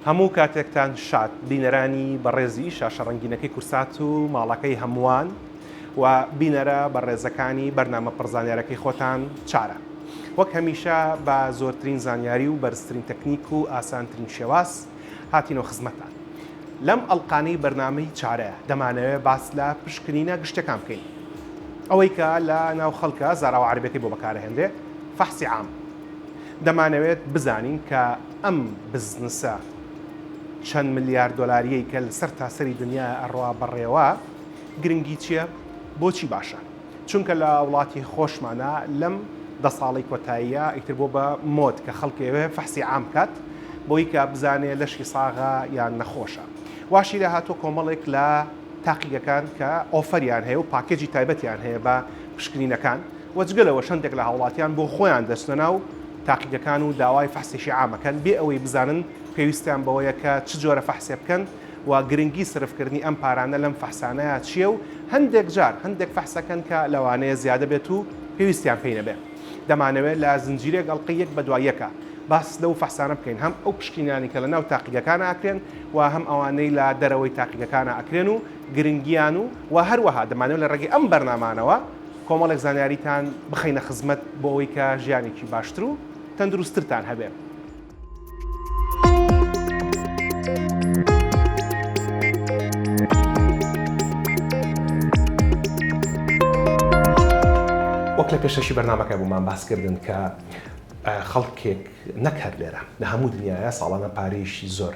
هەموو کاتێکتان شاد بینەرانی بەڕێزی شاشە ڕنگینەکەی کورسات و ماڵەکەی هەمووان و بینەرە بە ڕێزەکانی بەرنامە پڕزانیارەکەی خۆتان چارە وەک هەمیشە بە زۆرترین زانیاری و بەرزترین تەکنیک و ئاسانترین شێواز هاتینۆ خزمەتان لەم ئەڵقانەی بەرنامەی چارە دەمانەوێ باس لە پشکنینە گشتەکان بکەین ئەوەی کە لە ناو خەڵکە زاراوە عربەکەی بۆ بەکارەهێنرێ فەحسی عام دەمانەوێت بزانین کە ئەم بزنسە چەند ملیار دۆلاریەی کە لە سەر تاسەری دنیا ئەڕوا بەڕێوە گرنگی چییە بۆچی باشە؟ چونکە لە وڵاتی خۆشمانا لەم دە ساڵەی کۆتاییە ئیتر بۆ بە مۆد کە خەڵکێوێ فەحسی عام بکات بۆی کە بزانێ لەشی ساغە یان نەخۆشە واشی لە هاتووە کۆمەڵێک لە تاقیگەکان کە ئۆفەریان هەیە و پاکێجی تایبەتیان هەیە بە پشکنینەکان وەجگەلەوە شەندێک لە هاوڵاتیان بۆ خۆیان دەچنە ناو تاقیگەکان و داوای فەحسێکی عامەکەن بێ ئەوەی بزانن پێویستیان بەوەیە کە چ جۆرە فەحسێ بکەن و گرنگی سرفکردنی ئەم پارانە لەم فەحسانەیا چیە و هەندێک جار هەندێک فەحسەکەن کە لەوانەیە زیادە بێت و پێویستیان پێی نەبێ دەمانەوێ لە زنجیرەێک ئەڵقەی یەک بەدوای یەکا باس لەو فەحسانە بکەین هەم ئەو پشکینانەی کە لەناو تاقیگەکانا ئەکرێن و هەم ئەوانەی لە دەرەوەی تاقیگەکانا ئەکرێن و گرنگیان و و هەروەها دەمانەوێ لە ڕێگەی ئەم بەرنامانەوە کۆمەڵێک زانیاریتان بخەینە خزمەت بۆ ئەوەی کە ژیانێکی باشتر و تەندروستترتان هەبێ. وەک لە پێشەشی بەرنمەکە بوومان باسکردن کە خەڵکێک نەکەر لێرە لە هەموو دنیاە ساڵانە پارەیەشی زۆر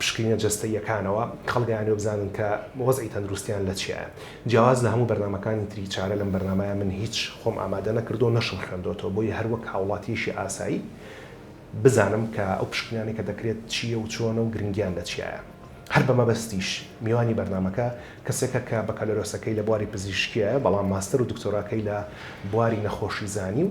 پشکنینە جەستەییەکانەوە خەڵک دەیانەوێت بزانن کە وەزعی تەندروستیان لە چیایە جیاواز لە هەموو بەرنامەکانی تری چارە لەم بەرنامەیە من هیچ خۆم ئامادە نەکردووە نەشم خوێندۆتەوە بۆیە هەر وەک هاوڵاتیەکی ئاسایی بزانم کە ئەو پشکنینانەی کە دەکرێت چییە و چۆنە و گرنگیان لە چیایە هەر بە مەبەستیش میوانی بەرنامەکە کەسێکە کە بەکالۆرۆسەکەی لە بواری پزیشکیە بەڵام ماستەر و دکتۆراکەی لە بواری نەخۆشیزانی و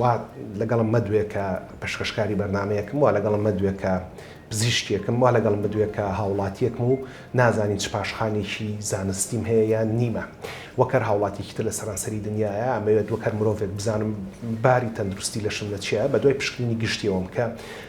وا لەگەڵم مەدوێ کە پەشکەشکاری بەرنامەیەکم، وا لەگەڵم مەدوێ کە پزیشکێکم، وا لەگەڵم مەدوێ کە هاوڵاتییەکم و نازانی چ پاشخانێکی زانستیم هەیە یان نیمە. وەک هەر هاوڵاتییەکی تر لە سەرانسەری دنیایا، ئەمەوێت وەک هەر مرۆڤێک بزانم باری تەندروستی لەشم لە چییایە، بەدوای پشکنینی گشتییەوەم کە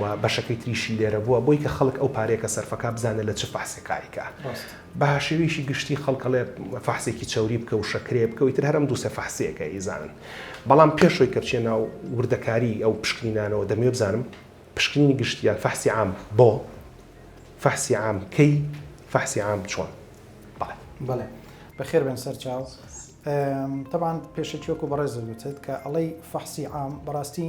و بەشەکەی تریشی لێرە بووە بۆی کە خەڵک ئەو پارەیە کە سەرفە کا بزانێ لە چ فەحسێ کاری کا بە شێوەیەکی گشتی خەڵک ئەڵێ فەحسێکی چەوری بکە و شەکرێ بکە و ئیتر هەر ئەم دوو سێ فەحسیەکە ئیزانن بەڵام پێش ئەوی کە بچیە ناو وردەکاری ئەو پشکنینانەوە دەمەوێ بزانم پشکنینی گشتی یان فەحسی عام بۆ فەحسی عام کەی فەحسی عام چۆن بەڵێ بەڵێ بەخێر بێن سەر چاو تەبان پێشەکی وەکو بەڕێزت وتت کە ئەڵەی فەحسی عام بەڕاستی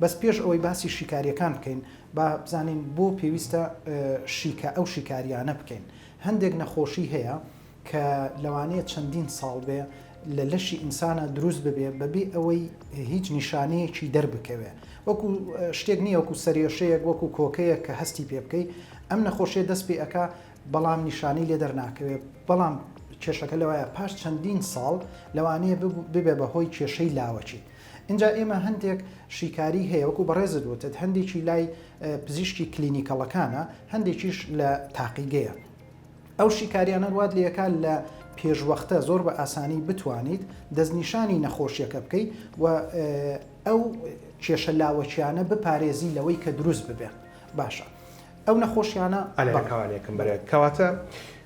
بەس پێش ئەوەی باسی شیکاریەکان بکەین با بزانین بۆ پێویستە شیکا ئەو شیکاریانە بکەین هەندێک نەخۆشی هەیە کە لەوانەیە چەندین ساڵ بێ لە لەشی ئینسانە دروست ببێ بەبێ ئەوەی هیچ نیشانەیەکی دەربکەوێ وەکو شتێک نییە وەکو سەرێشەیەک وەکو کۆکەیەک کە هەستی پێ بکەی ئەم نەخۆشیە دەست پێ ئەک بەڵام نیشانەی لێ دەرناکەوێ بەڵام کێشەکە لەوەیە پاش چەندین ساڵ لەوانەیە ببێ بە هۆی کێشەی لاوەکی. ئینجا ئێمە هەندێک شیکاری هەیە وەکو بەڕێزت وتت هەندێکی لای پزیشکی کلینیکەڵەکانە هەندێکیش لە تاقیگەیە ئەو شیکاریانە وات لەکە لە پێشوەختە زۆر بە ئاسانی بتوانیت دەستنیشانی نەخۆشیەکە بکەیت و ئەو کێشە لاوەکیانە بپارێزی لەوەی کە دروست ببێت باشە ئەو نەخۆشیانە ئەلەکانێکم بەرێت کەواتە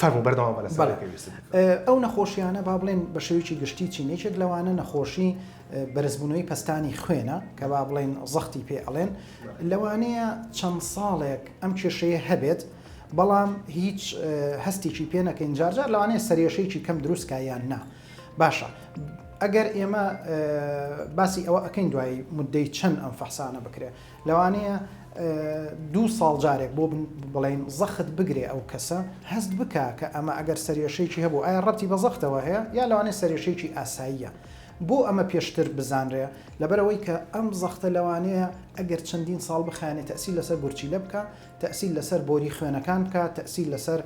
فەرموو بەردەوام بە لەسەر بەڵێ. پێویستت دەکەم. ئەو نەخۆشیانە با بڵێن بە شێوەیەکی گشتی چین یەکێک لەوانە نەخۆشی بەرزبوونەوەی پەستانی خوێنە کە با بڵێن زەختی پێ ئەڵێن لەوانەیە چەند ساڵێک ئەم کێشەیە هەبێت بەڵام هیچ اه، هەستێکی پێ نەکەین جارجار لەوانەیە سەرێشەیەکی کەم دروستکە یان نا باشە ئەگەر ئێمە اه، باسی ئەوە ئەکەین دوای مدەی چەند ئەم فەحسانە بکرێت لەوانەیە دوو ساڵ جارێک بۆ بڵێین زەخت بگرێ ئەو کەسە هەست بکا کە ئەمە ئەگەر سەرێشەیەکی هەبوو ئایا ڕەتی بە زەختەوە هەیە یا لەوانێ سەرێشەیەکی ئاساییە بۆ ئەمە پێشتر بزانرێ لەبەرەوەی کە ئەم زەختە لەوانەیە ئەگەر چەندین ساڵ بخانێت تەسی لەسەر گورچیلە بکە تەسی لەسەر بۆری خوێنەکان بکە تەسی لەسەر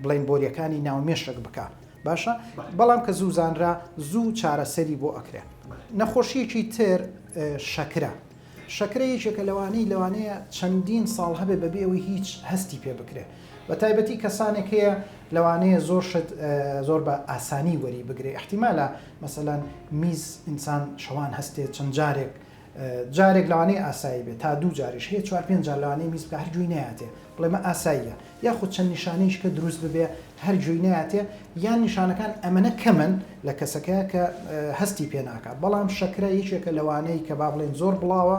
بڵین بۆریەکانی ناومێشک بکە باشە بەڵام کە زوو زانرا زوو چارەسەری بۆ ئەکرێن نەخۆشیەکی تر شەکرە شەکرە یەکێکە لەوانەی لەوانەیە چەندین ساڵ هەبێ بەبێ ئەوی هیچ هەستی پێ بکرێت بە تایبەتی کەسانێک هەیە لەوانەیە زۆر شت زۆر بە ئاسانی وەری بگرێ احتیمالە مەسەەن میز ئینسان شەوان هەستێت چەند جارێک جارێک لەوانەیە ئاسایی بێت تا دوو جاریش هەیە چوار پێنج جار لەوانەیە میز بکە هەر گوێی نەیاتێ بڵێ مە ئاساییە یاخود چەند نیشانەیش کە دروست ببێ هەر گوێی نەیاتێ یان نیشانەکان ئەمەنە کەمن لە کەسەکە کە هەستی پێ ناکات بەڵام شەکرە یەکێکە لەوانەیە کە با بڵێن زۆر بڵاوە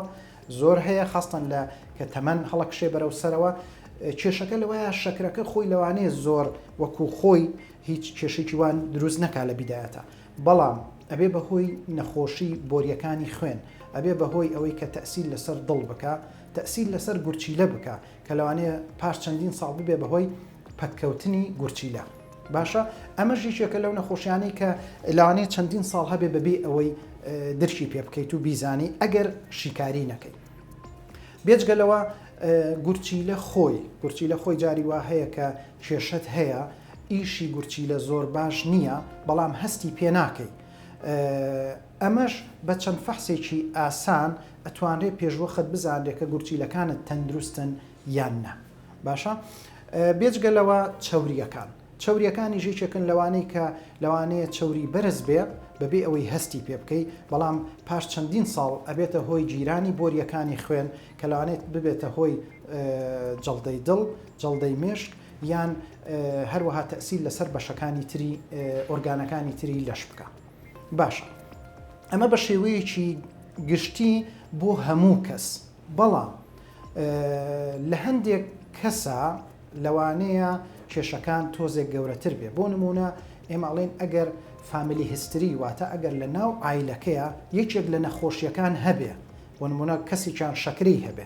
زۆر هەیە خستن لە کە تەمەەن هەڵکشێ بەرەو سەرەوە کێشەکە لەوەیە شەکرەکە خۆی لەوانەیە زۆر وەکو خۆی هیچ کێشێکی وان دروست نەکا لە بیداەتە بەڵام ئەبێ بەهۆی نەخۆشی بۆریەکانی خوێن ئەبێ بەهۆی ئەوەی کە تەئسیر لەسەر دڵ بکا تەئسیر لەسەر گورچیلە بکا کە لەوانەیە پاش چەندین ساڵ ببێ بەهۆی پەککەوتنی گورچیلە باشە ئەمەش یەکێکە لەو نەخۆشیانەی کە لەوانەیە چەندین ساڵ هەبێ بەبێ ئەوەی درکی پێ بکەیت و بیزانی ئەگەر شیکاری نەکەیت بێجگەلەوە گورچیلە خۆی گورچیلە خۆی جاری وا هەیە کە کێشەت هەیە ئیشی گورچیلە زۆر باش نییە بەڵام هەستی پێ ناکەی ئەمەش بە چەند فەحسێکی ئاسان ئەتوانرێ پێشوەخت بزانرێ کە گورچیلەکانت تەندروستن یان نا باشە بێجگە لەوە چەوریەکان چوریەکانی ژێکێکن لەوانەی کە لەوانەیە چوری بەرز بێ بەبێ ئەوەی هەستی پێ بکەی بەڵام پاش چەندین ساڵ ئەبێتە هۆی گیرانی بۆریەکانی خوێن کە لەوانێت ببێتە هۆی جەڵدەی دڵ جەڵدەی مێشک یان هەروەها تەئسیر لەسەر بەشەکانی تری ئۆرگانەکانی تری لەش بکا باشە ئەمە بە شێوەیەکی گشتی بۆ هەموو کەس بەڵام لە هەندێک کەسە لەوانەیە کێشەکان تۆزێک گەورەتر بێ بۆ نمونە ئێماڵێن ئەگەر فامیلی هستری واتە ئەگەر لە ناو ئایلەکەیە یەکێک لە نەخۆشیەکان هەبێ بۆ نمونە کەسێکیان شەکری هەبێ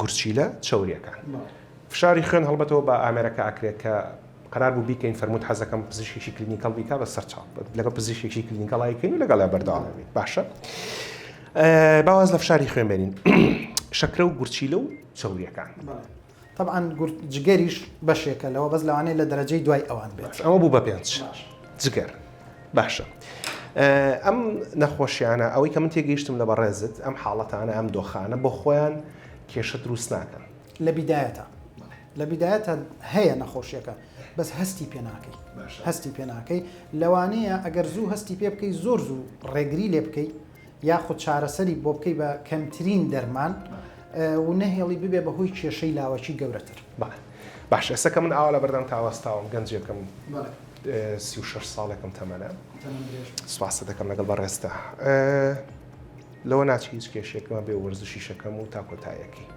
گورچیلە چەوریەکان فشاری خوێن هەڵبەتەوە بە ئامێرەکە ئەکرێت کە قەرار بوو بیکەین فەرمووت حەزەکەم پزیشکێکی کلینیکەڵ بیکا بە سەر چاو لەگەڵ پزیشکێکی کلینیکەڵای کەین و لەگەڵ بەردەوامی بێت باشە باواز لە فشاری خوێن بێنین شەکرە و گورچیلە و چەوریەکان. طبعا جگەریش بەشێکە لەوە بەس لەوانەیە لە دەرەجەی دوای ئەوان بێت ئەوە بوو بە پێنج جگەر باشە ئەم نەخۆشیانە ئەوەی کە من تێگەیشتم لە بەڕێزت ئەم حاڵەتانە ئەم دۆخانە بۆ خۆیان کێشە دروست ناکەن لە بیدایەتە لە بیدایەتە هەیە نەخۆشیەکە بەس هەستی پێ ناکەی هەستی پێ ناکەی لەوانەیە ئەگەر زوو هەستی پێ بکەی زۆر زوو ڕێگری لێ بکەیت یاخود چارەسەری بۆ بکەی بە کەمترین دەرمان و نەهێڵی ببێ بە هۆی کێشەی لاوەکی گەورەتر. باشە ئێستا کە من ئاوا لە بەردەم تا وەستاوم گەنجێکم سی و شەش ساڵێکم تەمەنە سوپاست دەکەم لەگەڵ بەڕێزتا لەوە ناچی هیچ کێشێکمە بێ وەرزشی شەکەم و تا کۆتایەکەی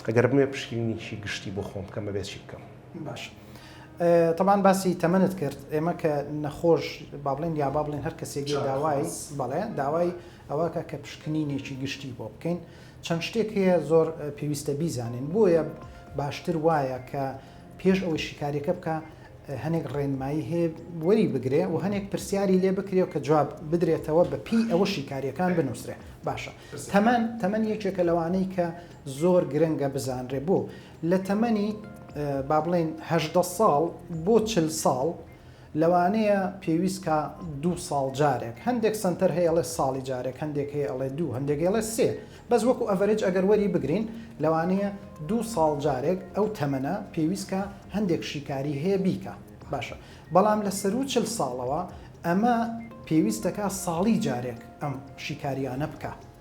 ئەگەر بمێ پشکینیی گشتی بۆ خۆم بکەم بەبێ چی بکەم باش تەبان باسی تەمەنت کرد ئێمە کە نەخۆش با بڵێن یا با بڵێن هەر کەسێک داوای بەڵێ داوای ئەوەکە کە پشکنینێکی گشتی بۆ بکەین چەند شتێک هەیە زۆر پێویستە بیزانین بۆیە باشتر وایە کە پێش ئەوەی شیکاریەکە بکە هەنێک ڕێنمایی هەیە وەری بگرێ و هەنێک پرسیاری لێ بکرێ کە جواب بدرێتەوە بە پی ئەوە شیکاریەکان بنووسرێ باشە تەمەەن تەمەەن یەکێکە لەوانەی کە زۆر گرنگە بزانرێ بۆ لە تەمەنی با بڵێین هەژدە ساڵ بۆ چل ساڵ لەوانەیە پێویست کا دوو ساڵ جارێک هەندێک سەنتەر هەیە ئەڵێ ساڵی جارێک هەندێک هەیە ئەڵێ دوو هەندێک ئەڵێ سێ بەس وەکو ئەڤەرێج ئەگەر وەری بگرین لەوانەیە دوو ساڵ جارێک ئەو تەمەنە پێویست کا هەندێک شیکاری هەیە بیکە باشە بەڵام لە سەروو چل ساڵەوە ئەمە پێویستەکە ساڵی جارێک ئەم شیکاریانە بکە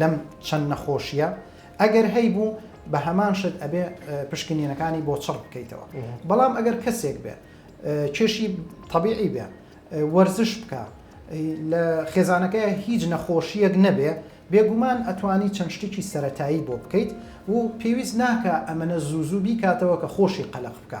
لەم چەند نەخۆشییە ئەگەر هەیبوو بە هەمان شت ئەبێ پشکنینەکانی بۆ چڕ بکەیتەوە بەڵام ئەگەر کەسێک بێ کێشی طبیعی بێ وەرزش بکە لە خێزانەکە هیچ نەخۆشیەک نەبێ بێگومان ئەتوانی چەند شتێکی سەتایی بۆ بکەیت و پێویست ناکە ئەمەە زوو زوو بیکاتەوە کە خۆشی قەلق بکە.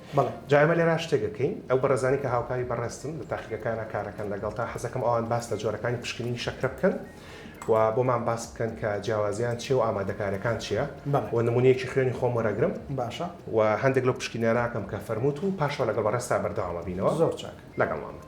بەڵێ جا ئێمە لێرا شتێک ئەکەین ئەو بەڕێزانەی کە هاوکاری بەڕێزتن لە تاقیگەکانا کارەکەن لەگەڵتا حەزەکەم ئەوان باس لە جۆرەکانی پشکنینی شەکرە بکەن و بۆمان باس بکەن کە جیاوازیان چیە و ئامادەکاریەکان چیە و نمونەیەکی خوێنی خۆم وەرەگرم باشە و هەندێک لەو پشکنینانە ئەکەم کە فەرمووت و پاشەوە لەگەڵ بەڕێزتا بەردەوامەبینەوە زۆر چاک لەگەڵمان بن.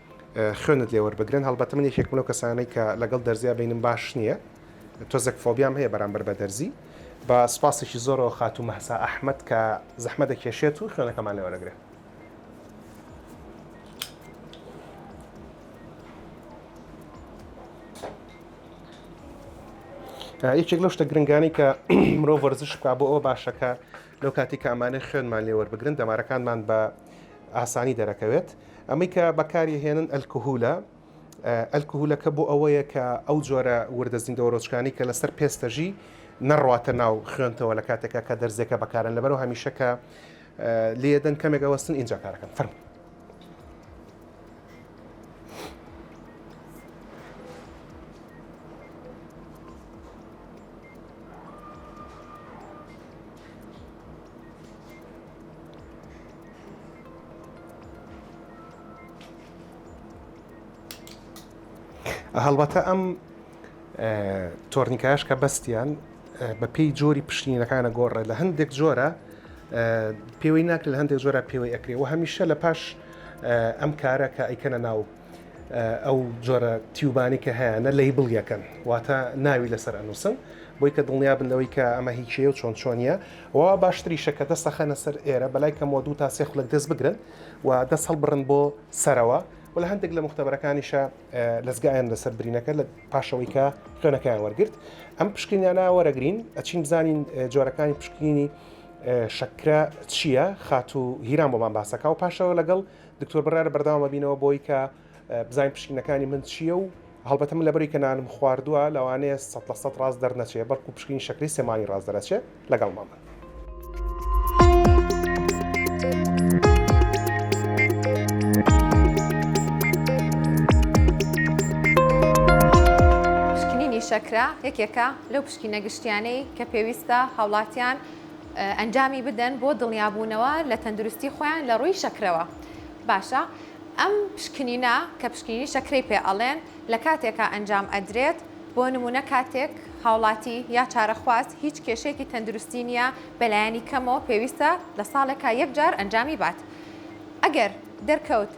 خوێنت لێ وەربگرن هەڵبەتە من یەکێکم لەو کەسانەی کە لەگەڵ دەرزیا بەینم باش نییە تۆزێک فۆبیام هەیە بەرامبەر بە دەرزی بە سوپاسێکی زۆرەوە خاتوو مەهسا ئەحمەد کە زەحمە دەکێشێت و خوێنەکەمان لێ وەرەگرێت یەکێک لەو شتە گرنگانی کە مرۆڤ وەرزش بکە بۆ ئەوە باشەکە لەو کاتی کامانێ خوێنمان لێوەربگرن دەمارەکانمان بە ئاسانی دەرەکەوێت ئەمەی کە بەکاری هێنن ئەلکهولە ئەلکهولەکە بۆ ئەوەیە کە ئەو جۆرە وردە زیندەوەرۆچکانی کە لەسەر پێستەژی نەڕواتە ناو خوێنتەوە لە کاتێکا کە دەرزیەکە بەکارن لەبەرەوە هەمیشەکە لێدەن کەمێک ئەوەستن ئینجا کارەکەن فەرمو هەڵبەتە ئەم تۆرنیکایش کە بەستیان بە پێی جۆری پشتینەکانە گۆڕێت لە هەندێک جۆرە پێوەی ناکە لە هەندێک جۆرە پێوەی ئەکرێ و هەمیشە لە پاش ئەم کارە کە ئەیکەنە ناو ئەو جۆرە تیوبانی کە هەیەە لی بڵ یەکەن واتە ناوی لەسەر ئەنووسن بۆی کە دڵنیا بن لەوەی کە ئەمە هیچەیە و چۆن چۆنیە وا باشتریشە کە دەست ئەخەنە سەر ئێرە بەلای کەمەوە دوو تا سێ خولەک دەست بگرن و دەست هەڵبڕن بۆ سەرەوە و لە هەندێک لە موختەبەرەکانیشە لەزگەیان لەسەر برینەکە لە پاشەوەی کە خوێنەکەیان وەرگرت ئەم پشکنیانە وەرەگرین ئەچین بزانین جۆرەکانی پشکنینی شەکرە چییە خاتوو هیران بۆمان باسەکە و پاشەوە لەگەڵ دکتۆر بڕارە بەرداوامە بینەوە بۆی کە بزانین پشکینەکانی من چییە و هەڵبەتە من لەبەری کە نانم خواردووە لەوانەیە سەد لە سەد ڕاست دەرنەچێ بەڵکو پشکینی شەکری سێ مانگی ڕاست دەرەچێ لەگەڵ مامە. شەکرە یەکێکە لەو پشکینە گشتیانەی کە پێویستە هاوڵاتیان ئەنجامی بدەن بۆ دڵنیابوونەوە لە تەندروستی خۆیان لە ڕووی شەکرەوە. باشە ئەم پشکنینە کە پشکنینی شەکرەی پێ ئەڵێن لە کاتێکا ئەنجام ئەدرێت بۆ نمونە کاتێک هاوڵاتی یا چارەخواز هیچ کێشەیەکی تەندروستی نیە بەلایەنی کەمەوە پێویستە لە ساڵێکا یەک جار ئەنجامی بات ئەگەر دەرکەوت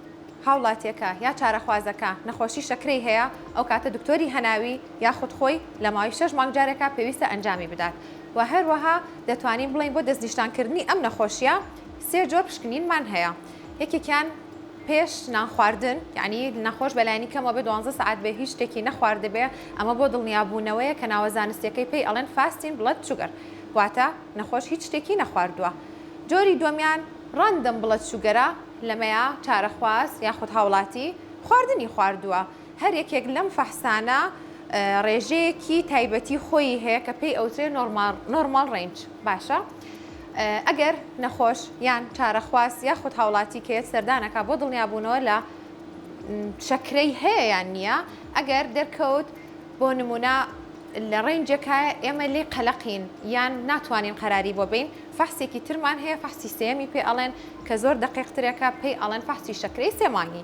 هاوڵاتیەکە یا چارەخوازەکە نەخۆشی شەکرەی هەیە ئەو کاتە دکتۆری هەناوی یاخود خۆی لە ماوەی شەش مانگ جارێکا پێویستە ئەنجامی بدات وە هەروەها دەتوانین بڵێین بۆ دەستنیشتان کردنی ئەم نەخۆشیە سێ جۆر پشکنینمان هەیە یەکێکیان پێش نانخواردن یعنی نەخۆش بەلایانی کەمەوە بێ دوانزە سعات بێ هیچ شتێکی نەخواردبێ ئەمە بۆ دڵنیابوونەوەیە کە ناوە زانستیەکەی پێی ئەڵێن فاستین بڵەد شوگەر واتە نەخۆش هیچ شتێکی نەخواردووە جۆری دووەمیان ڕەندەم بڵەد شوگەرە لەمەیا چارەخواز یاخود هاوڵاتی خواردنی خواردووە. هەر یەکێک لەم فەحسانە ڕێژەیەکی تایبەتی خۆیی هەیە کە پێی ئەوترێ نۆرماڵ ڕەینج باشە ئەگەر نەخۆش یان چارەخواز یاخود هاوڵاتی کەێت سەردانەکە بۆ دڵنیابوونەوە لە شەکرەی هەیە یان نییە ئەگەر دەرکەوت بۆ نمونە لە ڕێنجەکە ئێمە لی قەلەقین یان ناتوانین قەراری بۆ بین فەحسێکی ترمان هەیە فەحسی سێمی پێ ئەڵێن کە زۆر دەقیقترێکە پێی ئەڵێن فەحسی شەکرەی سێمانگی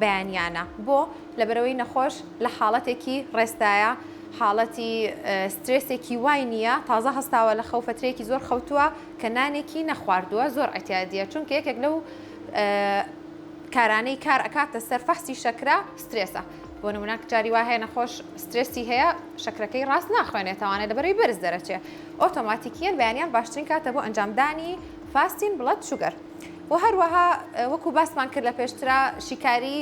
بەیانیانە بۆ؟ لەبەرئەوەی نەخۆش لە حاڵەتێکی ڕێستایە حاڵەتی سترێسێکی وای نییە تازە هەستاوە لە خەو فەترەیەکی زۆر خەوتووە کە نانێکی نەخواردووە زۆر عەتیادیە چونکە یەکێک لەو کارانەی کار ئەکاتە سەر فەحسی شەکرە سترێسە بۆ نمونە جاری وا هەیە نەخۆش سترێسی هەیە شەکرەکەی ڕاست ناخوێنێتەوانێت لەبەرەوەی بەرز دەرەچێ ئۆتۆماتیکیەن بەیانیان باشترین کاتە بۆ ئەنجامدانی فاستین بڵەد شوگەر و هەروەها وەکو باسمان کرد لە پێشترا شیکاری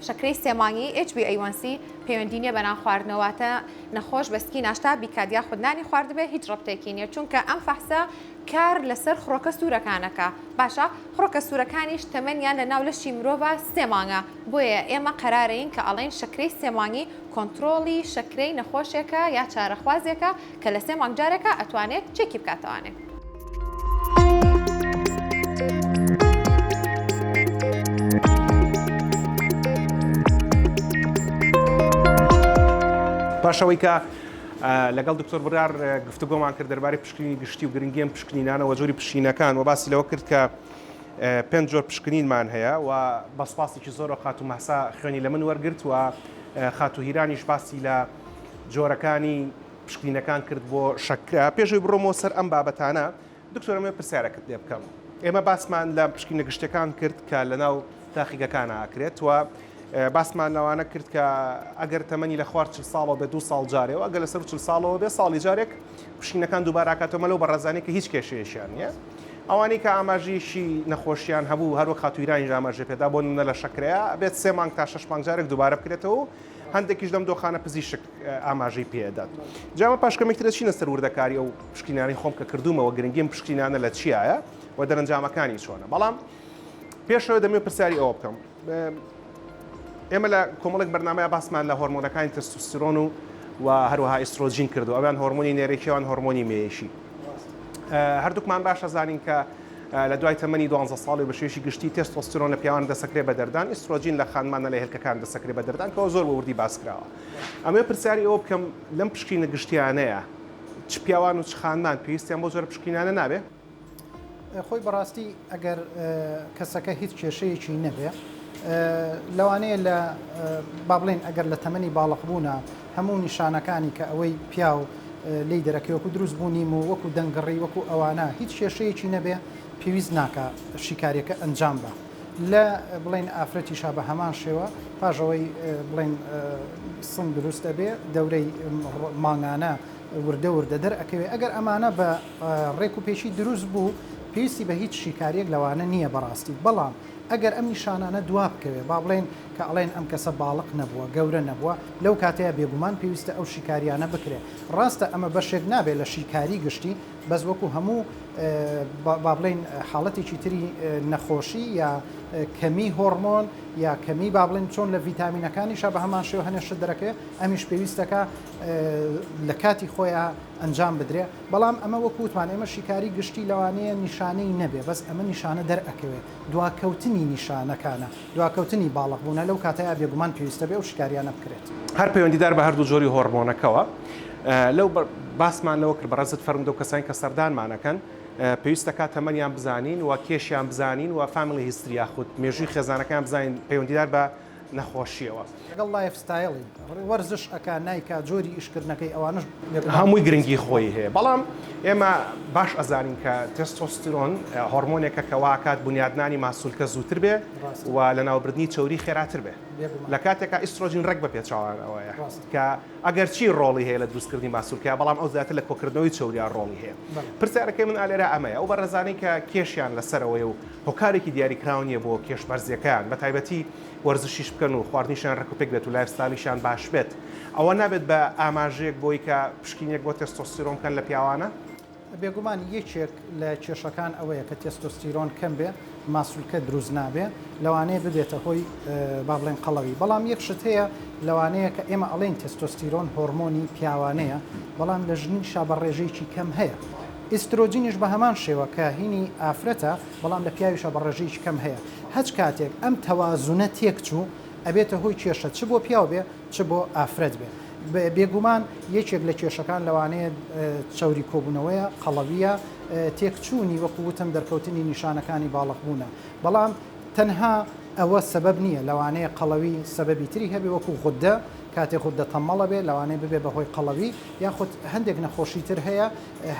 شەکرەی سێمانگی HbA1c پەیوەندی نیە بەنان خواردنەوەتە نەخۆش بەسکی ناشتا بیکات یا خودنانی خواردبێ هیچ ڕبتێکی نیە چونکە ئەم فەحسە کار لەسەر خڕۆکە سوورەکانەکە باشە خڕۆکە سوورەکانیش تەمەنیان لە ناو لەشی مرۆڤ سێمانگە بۆیە ئێمە قەرارەین کە ئەڵێن شەکرەی سێمانگی کۆنتترۆڵی شەکرەی نەخۆشێکە یا چارەخوازێکە کە لە سێ مانگ جارێکە ئەتوانێت چێکی بکاتەوانێ. پاش ئەوەی کە لەگەڵ دکتۆر برار گفتوگۆمان کرد دەربارەی پشکنینی گشتی و گرنگی ئەم پشکنینانە و جۆری پشینەکان و باسی لەوە کرد کە پێنج جۆر پشکنینمان هەیە و بە سوپاسێکی زۆرەوە خاتوو مەهسا خوێنی لە من وەرگرت و خاتوو هیرانیش باسی لە جۆرەکانی پشکنینەکان کرد بۆ شەکرە. پێش ئەوەی بڕۆمەوە سەر ئەم بابەتانە، دکتۆر ئەمەوێت پرسیارەکت لێ بکەم. ئێمە باسمان لە پشکینە گشتیەکان کرد کە لەناو تاقیگەکان ئاکرێت و باسمان لەوانە کرد کە ئەگەر تەمەنی لە خوار چل ساڵەوە بێ دو ساڵ جارێ و ئەگەر لەسەر چل ساڵەوە بێ ساڵی جارێک پشینەکان دووباراکاتەوە لەو بەڕێزانانی کە هیچ کێشەیەشیان نییە ئەوانەی کە ئاماژیشی نەخۆشیان هەبوو هەروەک خاتویرانی ئاماژە پێدا بۆ نمونە لە شەکرەیە بێت سێ مانگ تا شش مانگ جارێک دووبارە بکرێتەوە هەندێکیش لەم دۆخانە پزیشک ئاماژەی پێدات جامە پاش کەمێکترە چینە سەر وردەکاری ئەو پشکینانی خۆم کە کردومەوە گرنگیم پشکینانە لە چیایە و دەرەنجامەکانی چۆنە بەڵام پێشەوە دەمێ پرسیاری ئەوە بکەم ئێمە لە کۆمەڵێک بەرنمەیە باسمان لە هۆرمۆنەکانی تەستوسترۆن و و هەروەها ئیسرۆجین کردو ئەویان هۆرمۆنی نێرەکیوان هۆرمۆنی مێشی هەردووکمان باش ئەزانین کە لە دوای تەمەنی دوانزە ساڵی بە شێوەیەکی گشتی تێستۆستیرۆن لە پیاوان دەسەکرێ بە دەردان ئیسترۆجین لە خانمانە لە هێلکەکان دەسەکرێ بە دەردان کەەوە زۆر بە وردی باس کراوە ئەمێ پرسیاری ئەوە بکەم لەم پشکینە گشتیانەیە چ پیاوان و چ خانمان پێویستیان بۆ جۆرە پشکینانە نابێ خۆی بەڕاستی ئەگەر کەسەکە هیچ کێشەیەکی نەبێ لەوانەیە لە بابلین ئەگەر لە تەمەنی باڵق بوونا هەموو نیشانەکانی کە ئەوەی پیاو لی دەرەکەوەکو دروست بوو نیم و وەکو دەنگڕی وەکو ئەوانە هیچ کێشەیەکی نەبێ پێویست ناکە شیکاریەکە ئەنجام بە لە بڵین ئافرەتی شا بە هەمان شێوە پاژەوەی بڵین سن دروستە بێ دەورەی مانگانە وردە وردە دەر ئەکەوێ ئەگەر ئەمانە بە ڕێک و پێکی دروست بوو پێویستی بە هیچ شیکاریەک لەوانە نیە بەڕاستی بەڵام ئەگەر ئەم نیشانانە دوا بکەوێ با بڵێن کە ئەڵێن ئەم کەسە باڵق نەبووە گەورە نەبووە لەو کاتەیا بێگومان پێویستە ئەو شیکاریانە بکرێ ڕاستە ئەمە بەشێک نابێ لە شیکاری گشتی بەس وەکو هەموو با بڵێن حاڵەتێکی تری نەخۆشی یا کەمی هۆڕمۆن یا کەمی با بڵێن چۆن لە ڤیتامینەکانیشە بە هەمان شێوە هەنێ شت دەرەکەوێ ئەمیش پێویستەکە لە کاتی خۆیان ئەنجام بدرێ بەڵام ئەمە وەکو وتمان ئێمە شیکاری گشتی لەوانەیە نیشانەی نەبێ بەس ئەمە نیشانە دەرئەکەوێ دواکەوتنی نیشانەکانە دواکەوتنی باڵغ بوونە لەو کاتەیا بێگومان پێویستە بێ ئەو شیکاریانە بکرێت. هەر پەیوەندیدار بە هەردوو جۆری هۆڕمۆنەکەوە لەو باسمان لەوە کرد بەڕێزت فەرموودە و کەسانی کە سەردانمان ئەکەن پێویست دەکات تەمەنیان بزانین و کێشیان بزانین و فامیلی هیستری یاخود مێژووی خێزانەکەیان بزانین پەیوەندیدار بە نەخۆشیەوە. لەگەڵ لایف ستایڵی وەرزش ئەکا نایکا جۆری ئیش کردنەکەی ئەوانەش لەبنەڕەت. هەمووی گرنگی خۆی هەیە بەڵام ئێمە باش ئەزانین کە تێستۆستیرۆن هۆڕمۆنێکە کە وا ئەکات بونیادنانی ماسولکە زووتر بێ و لەناوبردنی چەوری خێراتر بێ لە کاتێکا ئیسترۆجین ڕێک بە پێچەوانەوەیە کە ئەگەر چی ڕۆڵی هەیە لە دروست کردنی ماسولکە بەڵام ئەو زیاتر لە کۆکردنەوەی چەوریا ڕۆڵی هەیە پرسیارەکەی من ئالێرا ئەمەیە ئەو بەڕێزانەی کە کێشیان لەسەرەوەی و هۆکارێکی دیاریکراو نییە بۆ کێش بەرزیەکەیان بەتایبەتی وەرزشیش بکەن و خواردنیشیان ڕێک و پێک بێت و لایف ستایلیشیان باش بێت ئەوە نابێت بە ئاماژەیەک بۆی کە پشکینێک بۆ تێستۆستیرۆن بکەن لە پیاوانە. بێگومان یەکێک لە کێشەکان ئەوەیە کە تێستۆستیرۆن کەم بێ ماسولکە دروست نابێ لەوانەیە ببێتە هۆی با بڵێن قەڵەوی بەڵام یەک شت هەیە لەوانەیە کە ئێمە ئەڵێن تێستۆستیرۆن هۆڕمۆنی پیاوانەیە بەڵام لە ژنیشا بە ڕێژەیەکی کەم هەیە ئیسترۆجینیش بە هەمان شێوە کە هینی ئافرەتە بەڵام لە پیاویشا بە ڕێژەیەکی کەم هەیە هەچ کاتێک ئەم تەوازونە تێک چوو ئەبێتە هۆی کێشە چ بۆ پیاو بێ چ بۆ ئافرەت بێ بێگومان یەکێک لە کێشەکان لەوانەیە چەوری کۆبوونەوەیە قەڵەویە تێک چوونی وەکو وتم دەرکەوتنی نیشانەکانی باڵق بوونە بەڵام تەنها ئەوە سەبەب نییە لەوانەیە قەڵەوی سەبەبی تری هەبێ وەکو غوددە کاتێ غوددە تەمەڵە بێ لەوانەیە ببێ بە هۆی قەڵەوی یاخود هەندێک نەخۆشی تر هەیە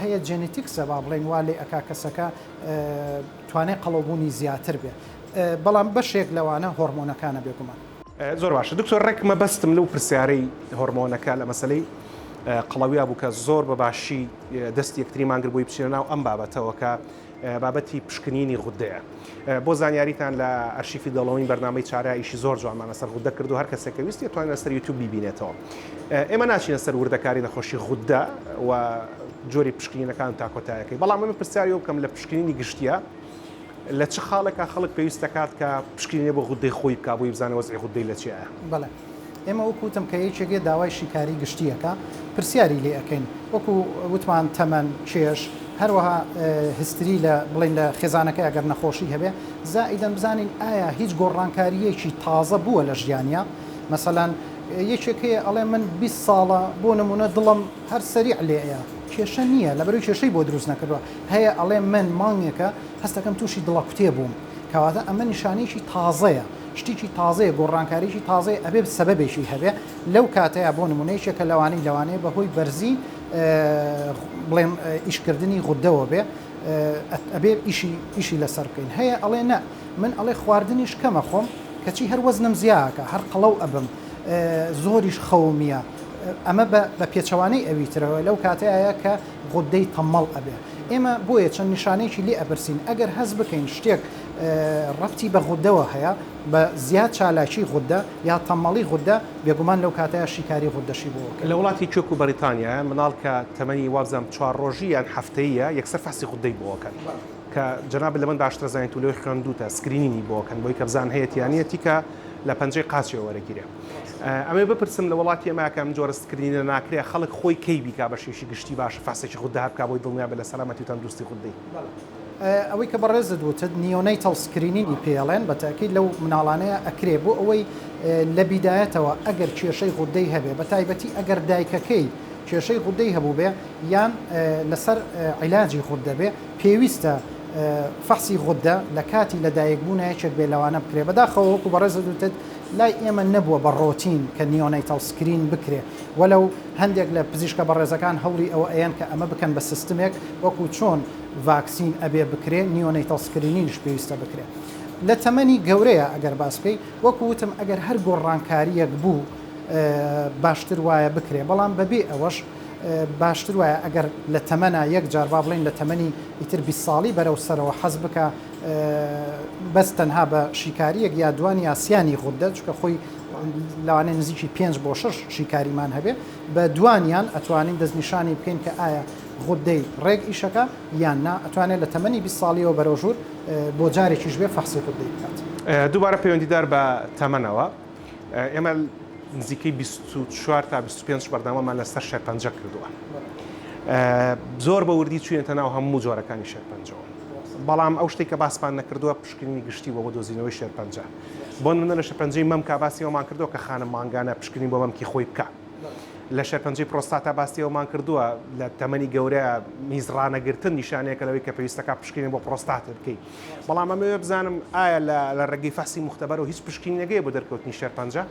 هەیە جێنیتیکسە با بڵێین وا لێ ئەکا کەسەکە توانای قەڵەوبوونی زیاتر بێ بەڵام بەشێک لەوانە هۆرمۆنەکانە بێگومان. زۆر باشە دکتۆر ڕێک مەبەستم لەو پرسیارەی هۆرمۆنەکە لە مەسەلەی قەڵەویا بوو کە زۆر بە باشی دەستی یەکتری مانگربووی بچینە ناو ئەم بابەتەوە کە بابەتی پشکنینی غودەیە بۆ زانیاریتان لە ئەرشیفی دەڵەوەین بەرنمەی چارە ئیشی زۆر جوانمان لەسەر غودە کردو هەر کەسێک کە ویستی توانێت لەسەر یوتیوب بیبینێتەوە ئێمە ناچینە سەر وردەکاری نەخۆشی غودە و جۆری پشکنینەکان تاکۆتایەکەی بەڵام من پرسیاری بکەم لە پشکنینی گشتیە لە چ خاڵێکا خەڵک پێویست دەکات کە پشکینێ بۆ غودەی خۆی بک بۆی بزانە وەزی غودەی لە چیە بڵێ ئێمە وەکو وتم کە یەکێک یە داوای شیکاری گشتییەکە پرسیاری لێ ئەکەین وەکو وتمان تەمەن کێش هەروەها هستری لە بڵین لە خێزانەکە ئەگەر نەخۆشی هەبێ زائیدەن بزانین ئایا هیچ گۆڕانکاریەکی تازە بووە لە ژیانیا مەسەلەن یەکێکەیە ئەڵێ من 20 ساڵە بۆ نمونە دڵم هەر سەری لێەیە کێشە نییە لەبەرو کێشەی بۆ دروست نەکردووە هەیە ئەڵێ من مانگێکە هەستەکەم تووشی دڵە کوتێ بووم کەواتە ئەمە نیشانەیەکی تازەیە شتیکی تازەیە گۆڕانکاریکی تازەیە ئەبێ سەبەبێکی هەبێ لەو کاتەیە بۆ نمونەیەکێکە لەوانی لەوانەیە بەهۆی بەرزی بڵێم ئیشکردنی غودەوە بێ ئەبێ ئیشی ئیشی لەسەر بکەین هەیە ئەڵێ نە من ئەڵێ خواردنیش کەمە خۆم کەچی هەر وەزنم زیاکە هەر قەڵەو ئەبم زۆریش خەومیە ئەمە بە پێچەوانەی ئەوی ترەوە لەو کاتەیە کە غودەی تەمەڵ ئەبێ ئێمە بۆیە چەند نیشانەیەکی لێ ئەپرسین ئەگەر هەز بکەین شتێک ڕەبتی بە غوددەوە هەیە، بە زیاد چالاکی غوددە یا تەممەڵی غوددە، بێگومان لەو کاتەیا شیکاری غوددەشی بۆ وەکرد. لە وڵاتی کوێک و بەریتانیایە منداڵ کە تەمەنی وابزانم چوار ڕۆژی یان هەفتەییە یەکسەر فحسی غوددەی بۆ وەکەن کە جەنابت لەمن باشتر ئەزانیت و لۆی خوێندووتە سکرینینی بۆ وەکەن بۆی کە بزان هەیەتی یا نیە تیکە لە پەنجەی قاچێ وەرەگیرێ ئەمەوێ بپرسم لە وڵاتی ئێمە کە ئەم جۆرە سکرینینە ناکرێ خەڵک خۆی کەی بیکا بەشێوەیەکی گشتی باشە فحسێکی غوددە هەر بکا بۆی دڵنیا بێ لە سەلامەتی و تەندروستی غوددەی. ئەوەی کە بەڕێزت وتت نیۆنەیتەڵ سکرینینی پێڵێن بە تەئکید لەو مناڵانەیە ئەکرێ بۆ ئەوەی لە بیدایەتەوە ئەگەر کێشەی غودەی هەبێ بە تایبەتی ئەگەر دایکەکەی کێشەی غودەی هەبووبێ یان لەسەر عیلاجی غودە بێ پێویستە فەحسی غودە لە کاتی لە دایک بوونە یەکێک بێ لەوانە بکرێ بەداخەوە وەکو بەڕێزت وتت لای ئێمە نەبووە بە ڕۆتین کە نیۆنەیتەڵ سکرین بکرێ وەلەو هەندێک لە پزیشکە بەڕێزەکان هەوڵی ئەوە ئەیەن کە ئەمە بکەن بە سستمێک وەکو چۆن ڤاکسین ئەبێ بکرێ نیۆنەیتەڵ سکرینینیش پێویستە بکرێ لە تەمەنی گەورەیە ئەگەر باس بکەی وەکو وتم ئەگەر هەر گۆڕانکاریەک بوو باشتر وایە بکرێ بەڵام بەبێ ئەوەش باشتر وایە ئەگەر لە تەمەنا یەک جار با بڵین لە تەمەنی ئیتر بی ساڵی بەرەو سەرەوە حەز بکە بەس تەنها بە شیکاریەک یا دوان یاسیانی غوددە چکە خۆی لەوانەیە نزیکی پێنج بۆ شەش شیکاریمان هەبێ بە دوانیان ئەتوانین دەستنیشانی بکەین کە ئایا غودەی ڕێک ئیشەکە یان نا ئەتوانێت لە تەمەنی 20 ساڵیەوە بەرەو ژوور بۆ جارێکیش بێ فەحسی غودەی بکات. دووبارە پەیوەندیدار بە تەمەنەوە ئێمە نزیکەی بیست و چوار تا بیست و پێنج بەردەوامان لەسەر شێرپەنجە کردووە زۆر بە وردی چوینەتە ناو هەموو جۆرەکانی شێرپەنجەوە بەڵام ئەو شتێک کە باسمان نەکردووە پشکنینی گشتی بۆ بۆ دۆزینەوەی شێرپەنجە بۆ نمونە لە شەپەنجەی مەمکا باسی ئەومان کردووە کە خانم مانگانە پشکنین بۆ مەمکی خۆی بکا لە شەپەنجەی پرۆستاتا باسی ئەومان کردووە لە تەمەنی گەورە میزڕانەگرتن نیشانەیەکە لەوەی کە پێویستەکە پشکنین بۆ پرۆستاتێ بکەیت بەڵام ئەمەوێ بزانم ئایا لە ڕێگەی فەحسی مختبەرەوە هیچ پشکنینەگەیە بۆ دەرکەوتنی شێرپەنجە